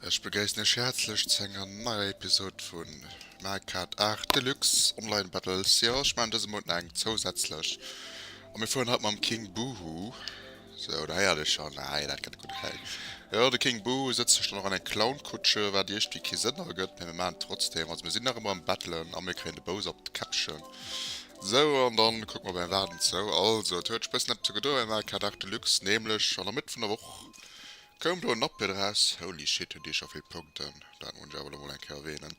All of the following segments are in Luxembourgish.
Ech begréissen iech häerzlech zu enger neier Episode vu Mario Kart 8 Deluxe Online Battles. Jo, ech maachen dëse Mount nach eng zousätzlech a mir fueren haut mam King Boo Hoo. Sou, da héiert ee schonn, ah jo, dat gëtt gutt. Okay. Jo, de King Boo sëtzt sech dann och an eng Clownkutsche, wat iergdwéi kee Sënn ergëtt, mä mir maachen et trotzdem. Also mir sinn nach ëmmer am Battlen a mir kréien de Bowser op d'Käppchen. Sou, an da kucke mer op eng Waart, ent sou. Also, et huet sech e bëssen eppes ugedoen am Arcade Art Deluxe, nämlech an der Mëtt vun der Woch koum do en Update eraus. Holy shit, hunn déi scho vill Punkten, dat muss ech awer elo mol eng Kéier erwähnen.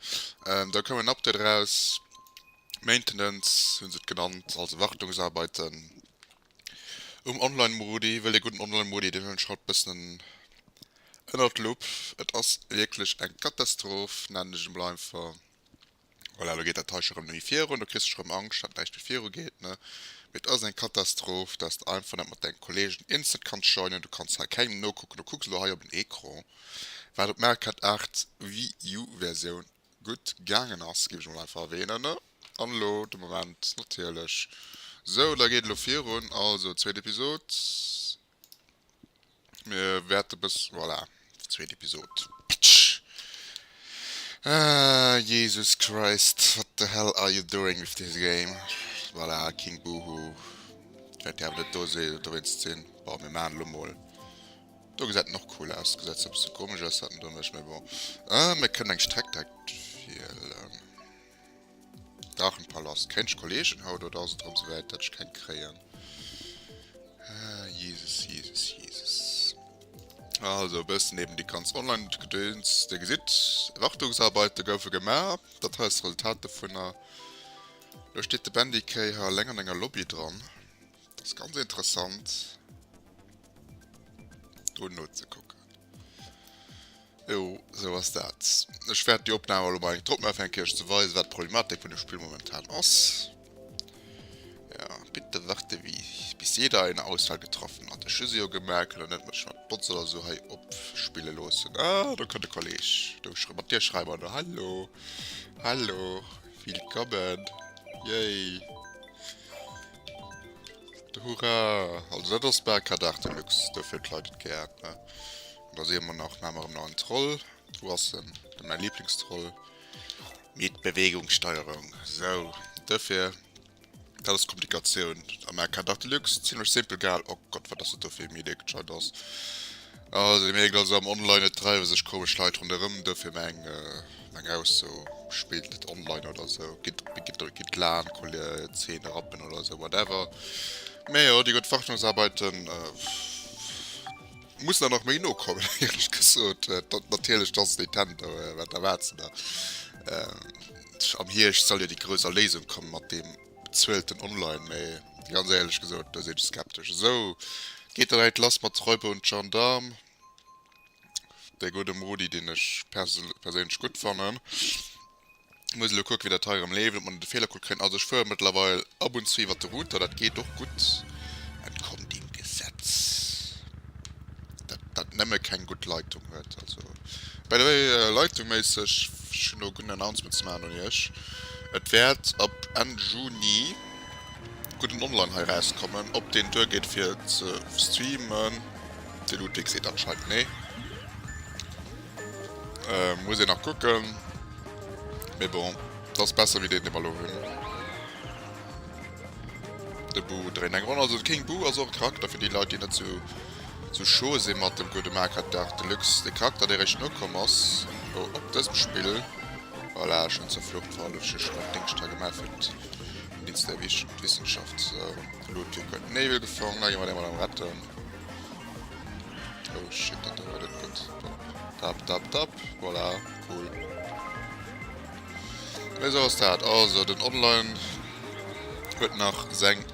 Da koum en Update eraus, Maintenance hu se et genannt, also Wartungsarbeiten. Um Online Modi, well ee gudden Online Modi deen huelen ech haut bëssen ënnert d'Lupp. Et ass wierklech eng Katastroph, nennen ech emol einfach. Voilà, elo geet dat Teilche rëm méi virun, do kriss ech rëm Angscht dat näischt méi viru geet ne. Mee et ass eng Katastroph, dass de einfach net mat denge Kollegen instant kanns joinen, du kanns hei kengem nokucken, du kucks elo hei op en Ecran wat op Mario Kart 8 Wii U Versioun. gutt gaangen ass, ginn ech mol einfach erwähnen, an elo de Moment natierlech sou, da geet elo virun, also zweet Episod, mir wäerte bëss, voilà, zweet Episod, pitsch, Jesus Christ, what the hell are you doing with this game, voilà, King Boohoo, wäert dir awer net do dowéinst sinn, bon, mir maachen elo mol. Do gesäit en och cool aus, gesäit zwar e bësse komesch aus haten doduerch, mee bon. Ah, mir kënnen eng Streck direkt wielen. Drachenpalast, kréint ech Kollegen haut oder ass et erëm souwäit dat ech keng kréien? Ah, Jesus, Jesus, Jesus. Also e bëssen eben déi ganz Online-Gedöns, Dir gesitt, Wartungsarbeiten goufe gemaach, dat hei ass d'Resultat dovunner. Elo steet de Bendy K. hei eleng an enger Lobby dran. Ass ganz interessant do nozekucken. Jo, sou ass dat. Ech wäert déi Opnam elo mol eng drop maachen, fir eng Kéier ze weisen, wat d'Problematik vun dem Spill momentan ass. Ja, bitte warte wie bis jeder eine Auswahl getroffen hat. Ech hu se jo gemerkt, kann der net mech mat Bots oder sou hei opspille loossen. Ah, do kënnt de Kolleg. Do schrei mat dir schreiwe mer do. Hallo, hallo, willkommen. Yay. Hurra! Also dat ass bal Carte d'Art Deluxe, dofir d'Leit et gär hat, ne? Da si mer nach maach mer erëm nach en Troll. Wou ass en? De mäi Lieblingstroll. Mit Bewegungssteuerung. Sou, dofir dat ass d'Komplikatioun a menger Carte d'Art Deluxe. Zimmlech simpel gehal. Oh Gott, wat ass dat do fir ee Mini-Deckscheit ass. Ah se mierkt also am Online et dreiwe sech komesch Leit ronderëm, dofir meng meng Ausso, spillt net online oder esou, gitt laang Zeen erappen oder esou whatever. Mee jo déi gutt Wartungsarbeiten mussen der nach méi no kommen éierlech gesot. Natierlech dass Nintendo, wat erwaarts de der? Am Hierscht soll jo déi grouss Erléisung kommen mat deem Zuelten online, mee ganz éierlech gesot, do sinn ech skeptesch. Esou geet dat heit lass mat de Räuber un d'Gendaarm. Dee gudde Modi, deen ech perséinlech gutt fannen. Muss elo kucken, wéi dat hei erëm leeft, ob mer net e Feelercode kréien. Also ech fuere mëttlerweil ab und zu iwwert de Router, dat geet och gutt, entkomm dem Gesetz. dat dat nemme keng gutt Leitung huet also by the way leitungméisseg ech hunn no gutt Announcement ze maachen un iech et wäert ab Enn Juni gudden online hei erauskommen ob deen duer geet fir ze streamen de Ludwig seet anscheinend nee muss een nach kucken mee bon et ass besser wéi deen dee mer elo hunn de Boo dréint eng Ronn also de King Boo ass och e Charakter fir déi Leit déi net sou. Zu Choo si mat dem gudde Maker Dark Deluxe de Charakter dee réischt nokomm ass oh op dësem Spill. Voilà schon zur Flucht war elo just nach Dingscht ha gemaach fir den Dienst der Wissenschaft elo d'Tür gëtt Nebel gefongen da gi mer dee mat am retten oh shit dat do war net gutt tap tap tap voilà cool mee sou ass dat also den Online huet nach seng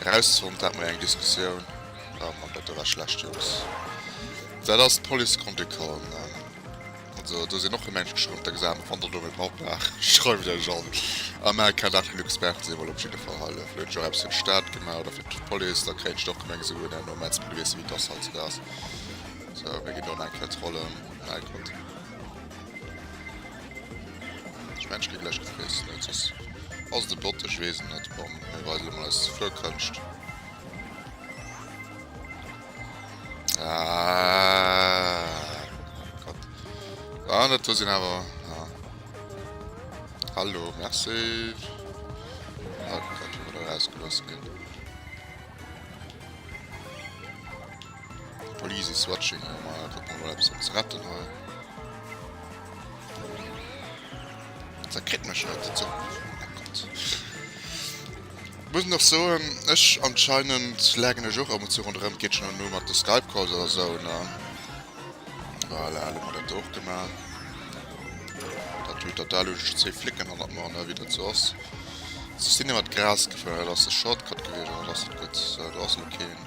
Erausfond dat mer eng Diskussioun waren mer bei dëller schlecht Jungs dat ass d'Police konnt ee callen an also do sinn och e Mensch geschrumpft der gesat wann der do méi braucht nach schreift iech an a mer kennt nach genuch Experten sinn well op jidde Fall hei fir hunn ech och eppes fir d'Stad gemaach oder fir d'Police da kréien ech dach gemengt esou en no Metz well du weess jo wéi d'Gass heizoude ass sou mir ginn do nach eng Kéier trollen mäi Gott. Ech mengen ech gi gläich gefressen net soss ass et e Bot, ech weess et net. Bon, mir weisen emol eis Fluerkënscht. Aahh Gott. Ah net do sinn awer ah. Hallo, merci. Ah Gott, wou mer do erausgelooss ginn. Police is watching oh my god, ob mer nach eppes ze retten hunn. Dat kritt mech net, dat soll muss nach so ech anscheinend lägen ech och am zu run rem Kitchen an nu mat de Skype calls oder so ne voilà, alle mat der Tour gemacht dat tut dat da luch ze flicken an man ne wie dat so ass sinn mat Gras geféiert ass de Shortcut gewesen ass gut du hast lo keen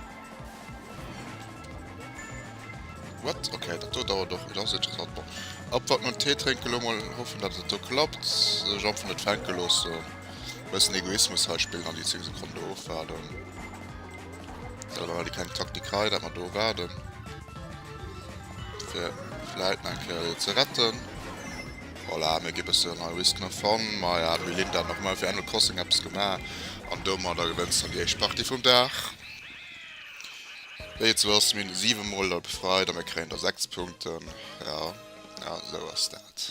What? Okay, dat do dauert och. Et ass interessant. Bon. Abwarten an Tee trénken lo mol. Hoffen, datt et do klappt. Ech einfach net fänke loossen. Bëssen Egoismus hei spillen an déi 10 Sekonne do ofwaarden. Selwer hat ee keng Taktik hei, dat mer do waarden. Fir vläit nach eng Kéier dee ze retten. Voilà, mir gi bëssen hei Risken a Fun. Ma ja, d'Melinda hat nach emol fir Animal Crossing eppes gemaach. An domadder gewënnt se dann déi éischt Partie vum Dag. Wéi et sou ass, mir hunn 7 mol Lall befreit a mir kréien der 6 Punkten. Jo, jo, sou ass dat.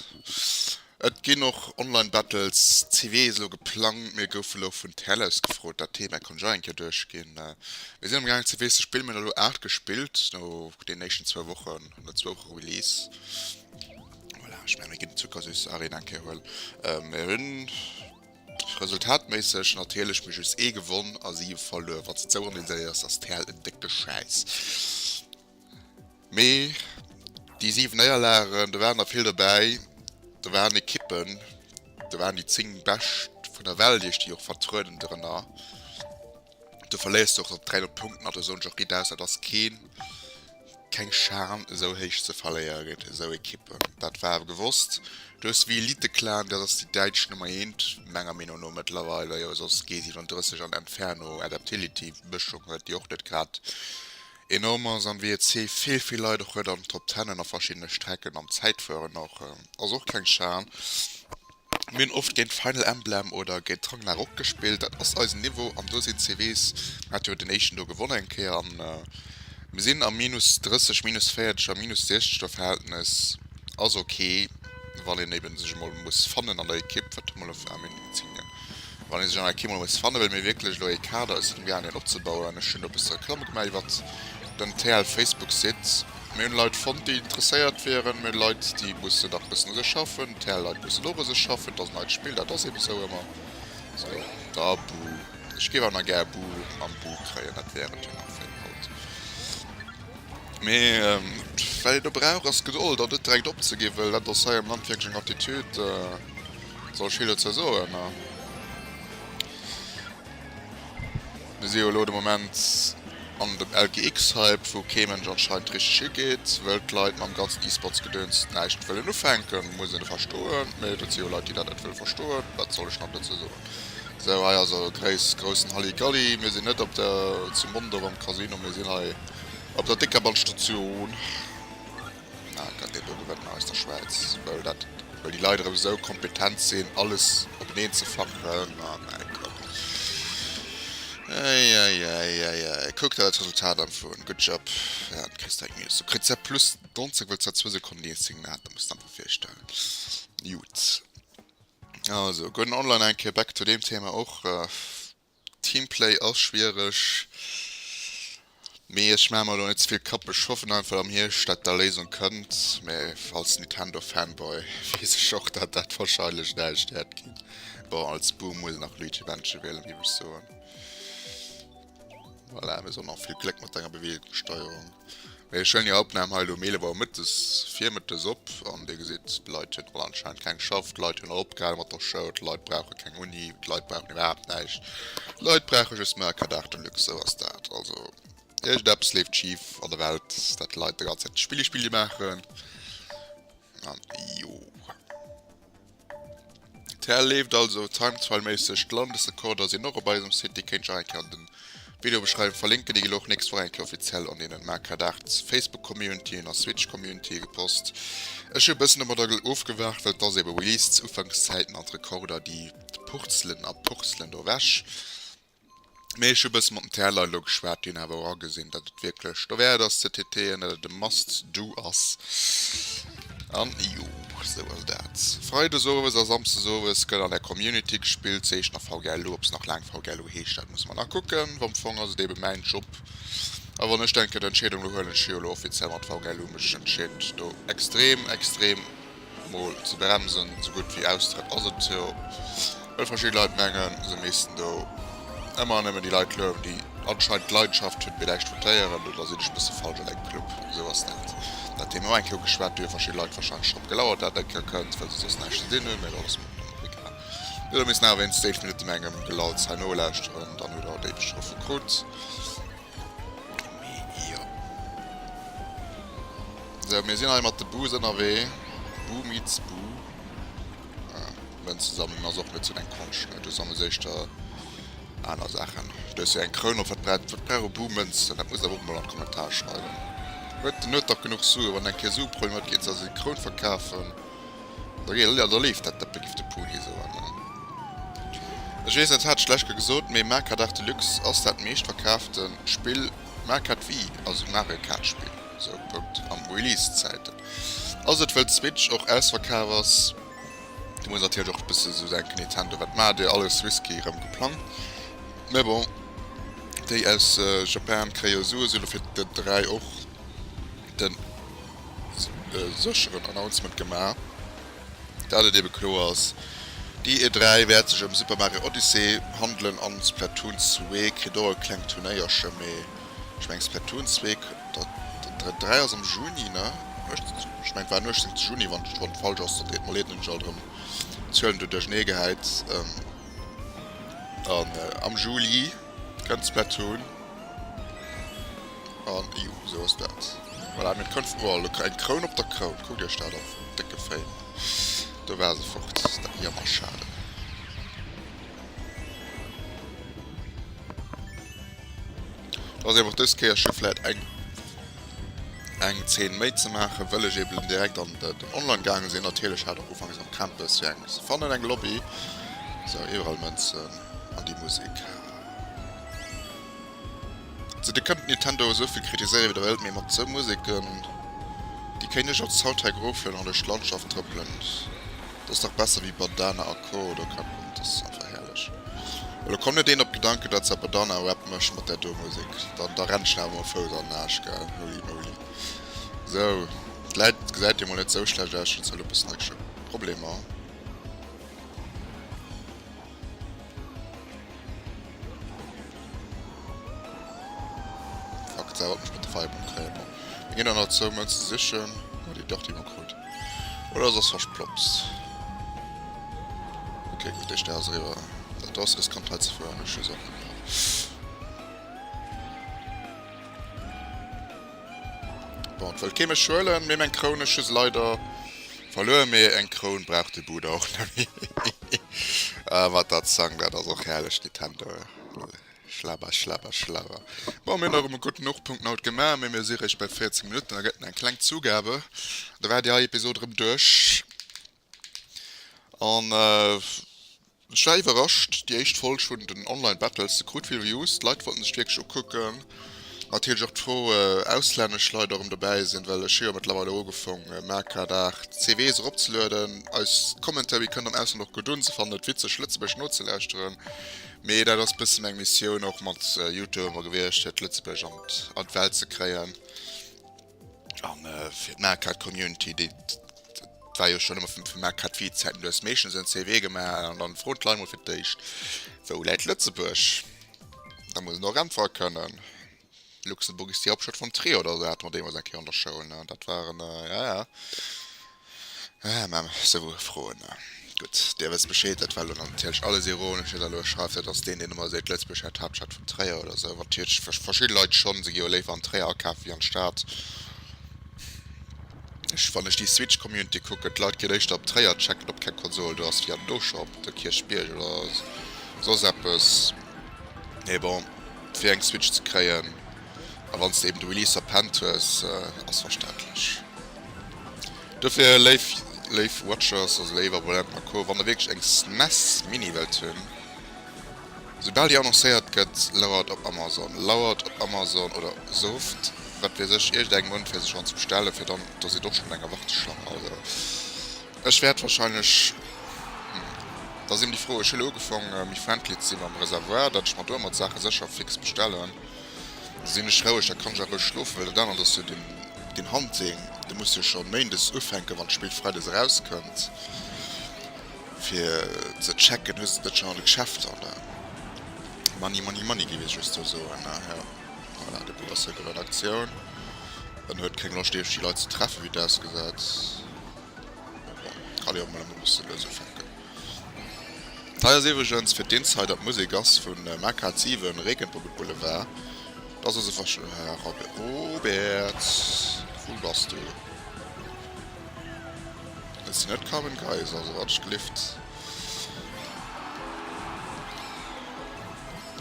Et ginn och Online Battles, CW ass elo geplangt. Mir goufe elo vun Tellus gefrot, dat Thema konnt ech och eng Kéier duerchginn. Mir sinn am gaang CW ze spillen, mir hunn elo 8 gespillt no deenen éischten zwou Wochen, no zwou Woche Release. Voilà, ech mengen, mir ginn d'Zuckersüss Arena eng Kéier huelen. Mir hunn. Resultatméisseg natierlech mee just ee gewonn a siwe verluer. Wanns de zouereen deen séiers ass d'Pärl en décke Schäiss. Mee déi siwen Néierlagen, do waren der vill dobäi, do waren Ekippen, do waren déi 10 bescht vun der Welt iech déi och vertrueden drënner. Du verléiers dach op 3 Punkten an der Zone Jockey Daus. Dat ass keen, keng Schan esou héich ze verléieren géint esou Ekippen. Dat war awer gewosst. Du hues The Elite Clan, dat ass déi däitsch Nummer eent menger Meenung no mëttlerweile. Jo soss G37 an Inferno, Adaptility, Mëschung huet déi och net grad enorm ass. An WEC vill vill Leit och huet an Top Tenen a verschiddene Strecken am Zäitfueren och. Ass och keng Schan. Mir hunn oft géint Final Emblem oder géint Ragnarok gespillt, dat ass eisen Niveau an do sinn d'CVs, mir hate jo deen éischten do gewonnen eng Kéier an mir sinn am minus 30, minus 40 a minus 60 der Verhältnes ass ok wann een eben sech emol muss fannen an der Ekipp, wat emol en Flam in Insignia. Wann ee sech an enger Kimo muss fannen, wëlle mir wierklech elo ee Kader aus den Garnien opzebauen. Ech hunn do e bësse Reklamm gemaach iwwert den TL-Facebook-Site. Mir hunn Leit fonnt, déi interesséiert wieren. Mir hunn Leit, déi mussen dach e bëssen u sech schaffen. TL-Leit mussen och u sech schaffen. Et ass en neit Spill, dat ass eben esou ëmmer esou. Da buh. Ech géif awer nach gär buh an buh kréien. Dat wär et jo nach fir haut. Mee wat een do brauch, ass Gedold an net direkt opzegi wëll dat ass hei am Land wierklech eng Attitude. Soll ech hie lo zersoen? Na. Mir si jo elo de Moment an dem LGX-Hype, wou kee Mënsch anscheinend richteg higeet, wëll d'Leit mam ganzen E-Sports-Gedöns näischt wëllen ufänken. Muss een verstoen, mee dat si jo Leit, déi dat net wëlle verstoen. Wat soll ech nach dozou soen? Sou, hei ass e gréis, groussen Halligalli. Mir sinn net op der, zu Mondorf am Casino, mir sinn hei op der Déckerbanstation. Ah, dat deet doriwwer den Eis der Schwäiz, wëll dat, wëll déi Leit erëm esou kompetent sinn, alles openeen ze fappen. Ah mäi Gott! Eieieiei! Kuck der dat Resultat an, Fun! Good job! Ja, du kriss deng News. Du kriss se plus 90, wëll s der zwou Sekonnen déi eenzeg sinn, dat muss de der einfach virstellen. Jut. Also, goen online eng Kéier back to deem Thema och. Teamplay ass schwiereg, mee ech maache mer elo net ze vill Kapp. Ech hoffen einfach am Hierscht dat der Léisung kënnt, mee als Nintendo Fanboy weess ech och dat dat wahrscheinlech näischt wäert ginn. Bon als Boom muss een nach Luigi Mansion wielen géif ech soen. Voilà, mir soen och vill Gléck mat denger Beweegungssteuerung. Mee ech huelen jo Opnahm hei elo um 11 Auer mëttes virmëttes op an Dir gesitt, d'Leit hunn all anscheinend keng geschafft, d'Leit hunn all opgehale mat der Schoul, d'Leit brauche keng Uni, d'Leit brauchen iwwerhaapt näischt, d'Leit brauche just nach e Cadar de luxe, sou ass dat. Also iergendeppes leeft schif an der Welt, dat d'Leit de ganze Zäit Spilli-Spilli maachen an jo. Tar leeft also Timesfile méisseg, d'Landesrekorder sinn och op eisem Site, déi kéints och eng Kéier an den Video beschreiwen verlinken, déi ginn och nächst Woch eng Kéier offiziell an deenen Markadart Facebook Community an Switch Community gepost. Ech hunn e bëssen domadder gel ofgewaart, well et ass eben Release zu Ufankszäiten an d'Rekorder déi purzelen a purzelen do ewech. Mee ech hu e bësse mat dem TLer elo geschwat, déi hunn awer och agesinn, datt et wierklech dowäert ass ze TTen, datt et e must do ass. An jo, esou ass dat. Freides owes a samsdes owes gëtt an der Community gespillt, se heescht nach VGLU. Ob se nach laang VGLU heescht, dat musse mer nach kucken. Am Fong ass et eebe mäin Job. A wann ech denken, d'Entscheedung elo huelen, ech hu jo elo offiziell mat VGLU mech entscheet, do extrem, extrem. Mol ze bremsen, sou gutt wéi Austrëtt ass et jo. Wëll verschidden Leit mengen se missten do ëmmer an nëmmen déi Leit louwen déi anscheinend Leidenschaft hunn fir Läich votéieren. Oder sinn ech e bësse falsch an engem Club? Sou ass dat dat Thema eng Kéier ugeschwat ginn, verschidden Leit warscheinlech drop gelauert dat et eng Kéier kënnt, well se soss näischt ze dinn hunn. Mä dat ass mol dann och egal. Jo da misst en awer wéinstens 11 Minutte mengem Gelalls hei nolauschteren, dann hutt der en Déifeschtrëff vu krut. Sou mir sinn hei mat de Bu's ënnerwee. Bu meets Bu. Mënzensammlung ass och net sou deng Konscht ne? Du sammels éischter aner Saachen. Stouss jo eng Kroun op. Wat brauch wat brauch e Bu Mënzen? Dat muss awer och emol an d'Kommentar schreiwen. Huet den huet dach genuch Sue. Wann en kee Sue Problem huet, geet en se als eng Kroun verkafen. Jo da leeft dat dëppe giff de Puni soen. Ech weess net hat ech lech ge gesot mee Marquard Arts de Luxe ass dat meescht verkaafte Spill Marquard Wii also Mario Kart Spill sou Punkt am Release Zäiten ass et wëll d'Switch och ausverkaaf ass do muss natierlech och bësse esou denken Nintendo wat maacht dir alles risky rëm geplangt mee bon déi aus Japan kréie jo souesu lo fir den 3 och den sécheren Announcement gemaach, dat et ebe kloer ass, déi E3 wäert sech ëm Super Mario Odyssey handelen an Splatoon 2 kritt och e klengt Turnéierche. Mee ech mengen Splatoon 2 kënnt, den 3 ass am Juni, ne? Ech mengen et war den 18 Juni, wann ech wann falsch ass dann deet mer leed, hunn ech alt erëm d'Zuelen do duerchneegehäit, an am Juli. Kënnt Splatoon an jo esou ass dat. Voilà mir kënnt vu oh look eng Kroun op der Kroun, kuckt iech dat an, décke Fail. Do war se fort, dat jammer schade. Ass eben och dës Kéier schief vläit eng eng Zeen méi ze maachen, wëll ech eben direkt an den Online gaange sinn. Natierlech hat och ufanks am Campus fir eng ze fannen eng Lobby, sou iwwerall Mënzen. an déi Musek. Ze de kënnt Nintendo esou vill kritiséiere wéi der wëllt, mee mat esou Museken, déi kéint ech als Haut hei groufelen an duerch d'Landschaft trëppelen, dat ass dach besser wéi Badana a Co. Oder keng Ahnung, dat ass einfach herrlech. Elo kommt net een op d'Gedanken, dat se Badana Rap mécht mat där do Musek. Dann da rennt een awer mam Fouss an den Aasch, gell? Holy moly. Sou, d'Läit gesäit jo mol net esou schlecht aus, ech hunn zwar elo e bëssen Action-Problemer. Fuck, dat wollt mech mat de Feierbomb kréien. Bon, da ginn der nach zou Mënz ze sichen. Oh, déi dach, déi mer krut. Oder ass ass versploppst. Okay, gutt, déi Stär ass eriwwer. Dat do ass riskant hei ze fueren. Ech hu Saachen gemaach. Bon, et wëllt kee mech huelen, mee meng Kroun, ech hu se leider verluer, mee eng Kroun brauch de Buda och nemmi. Ahh, mat der Zang, dat ass och herrlech, Nintendo, schlabber, schlabber, schlabber. Bon, mir hunn erëm e gutten Hochpunkt haut gemaach, mee mir si réischt bei 14 Minutten, da gëtt et eng kleng Zugabe, da war déi hei Episod erëm duerch. An ech war iwwerrascht, déi éischt Folg vun den Online Battles se krut vill Views, d'Leit wollten sech wierklech ukucken. Natierlech och d'Fro auslännesch Leit erëm dobäi sinn, well ech hu jo mëttlerweil och ugefong Mercard Art CVs erop ze lueden. Eis Commentary kënnt am Ausland och gutt un, se fannen et witzeg Lëtzebuerg nozelauschteren, mee dat ass bëssen eng Missioun och mat Youtube gewiescht fir d'Lëtzebuerger an d'Welt ze kréien. An fir d'Meerkat Community, déi et war jo schonn ëmmer vum vum Meerkat Wee Zäiten, du hues meeschtens en CV gemaach an dann froen d'Leit mol fir d'éischt, wou läit Lëtzebuerg? Da muss en och äntwere kënnen, Luxemburg ist die Hauptstadt von Trier oder esou hate mer deemools eng Kéier an der Schoul, dat waren, ja ja. Haa mam sou Froen a gutt Dir wësst Bescheed, dat war elo natierlech alles ironesch, wien der elo schreift dat ass deen deen ëmmer seet Lëtzebuerg hätt d'Haaptstad vun Tréier oder sou, wat natierlech verschidde Leit schonn, se gi jo léiwer an Tréier akafe wéi an d'Stad. Ech wann ech déi Switch Community kucken, d'Leit ginn éischter op Tréier checken op keng Konsol do ass wéi an do scho op de Kierchbierg oder soss eppes. Mee bon fir eng Switch ze kréien a wann s de eben de Release verpennt hues ass verständlech. Dofir léif léif Watchers, also léif Abonnenten a Co, wann der wierklech eng SNES Mini wëllt hunn, soubal déi annoncéiert gëtt, lauert op Amazon, lauert op Amazon oder souft wat weess ech iergend eng Mount fir se schonn ze bestellen, fir dann, do sidd och schonn an enger Warteschlang. Also ech wäert wahrscheinlech, hm, da si mir déi frou, ech hu lo ugefaange méi friendly ze si mam Reservoir, datt ech mer domat Saache sécher fix bestellen. Sin ech roueg, da kann ech och roueg schlofen, well dat anert ass jo den Hunting, dee muss jo scho méindes ufänken, wann d'Spill freides erauskënnt, fir ze checken, hu se dat scho an de Geschäfter, an da money, money, money géif ech just sou soen, jo. Voilà, de Bob ass zréck op der Redaktioun, en huet kéng Loscht iewescht déi Leit ze treffen, wéi et ausgesäit, bon, kann ee och mol e bësse lues ufänken. Hei ass iwregens fir d'Insider d'Musek ass vun Maka 7 Regenbogen Boulevard dass ass e Verschwendung Robert wou bass du et sinn net Carmen Geiss also wat ech gelift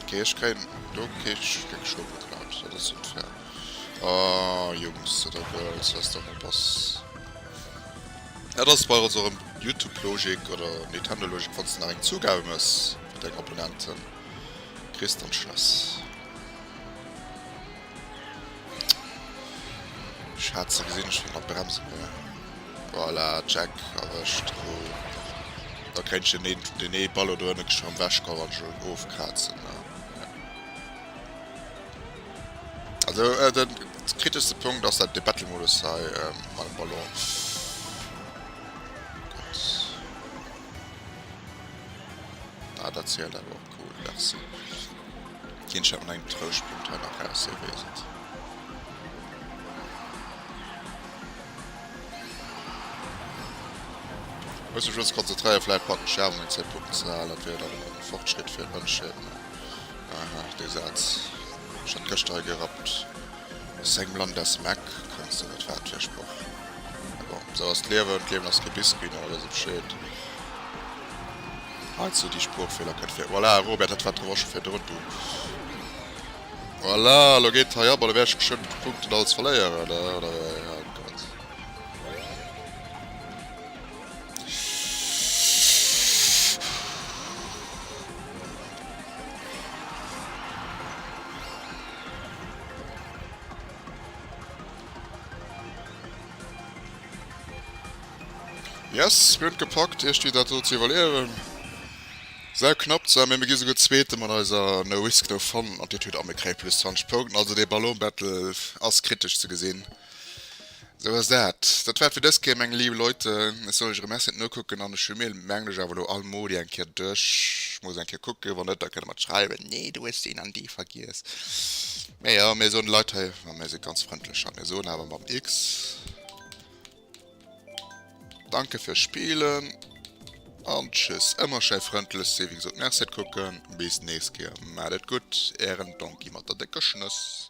ok ech kréien do kee Stéck Scho geklaut dat ass unfair oh Jungs oder Girls lasst der mol pass. Et ass bei ons erem Youtube Logik oder Nintendo Logik, wanns de nach eng Zugabe mes fir deng Abonnenten kriss dann schless Schatz, da gesin ech wéi mat Bremsen hir. Voilà check erwescht hu da kennt ech den den nee Ballo do ënne geschwëmm wechkauen an schon ofkrazen ne. Also äh, den kritischste Punkt ass dat de Battle Modus hei äh, mat dem Ballon. Ah, dat zielt awer och cool, merci. Keen Chat eng Trouschpunkt hei nach raus hier wesent. Muss mich uns konzentréieren, vielleicht packen Scherben eng 10 Punkten ze halen, dat wär dann e Fortschritt fir Mënschheet. Haha dee Saz, ech hat gëschter e gerappt, aus engem Land aus Meck kënnt se net, wat fir e Sproch. Mee bon, esou ass d'Liewen, d'Liewen ass kee Biscuit, nach e bësse Bescheed heizou, déi Sproochfeeler kënnt vir. Voilà Robert, dat war d'Revanche vu virdrun, du voilà, lo geet hei ab an da wäert ech geschwënn d'Punkten alles verléieren, oder wéi? Yes, mir hunn et gepackt, iech déi dat do ze iwwerleeën. Säu knapp zwar, mä mir gi souguer Zweete mat eiser No Risk No Fun Attitüd a mir kréie plus 20 Punkten. Also dee Ballon Battle ass kritesch ze gesinn. Sou ass dat. Dat war et fir dës Kéier, meng liiw Leute. Ech soll lech erëm Asset nokucken an ech hu mir, mengen ech, awer elo almoli eng Kéier duerch. Ech muss eng Kéier kucken, wann net, da kënnt Der mat schreiwen, Nee, du hues deen an dee vergiess. Mä jo, mir soen de Leit hei, a mir si ganz frëndlech hei, mir soen awer mam X, Danke fürs Spielen an Tschüss. Ëmmer schei frëndlech sinn, wéi gesot, den Asset kucken. Bis nächst Kéier. Maacht et gutt, Ären Donkey mat der décker Schnëss.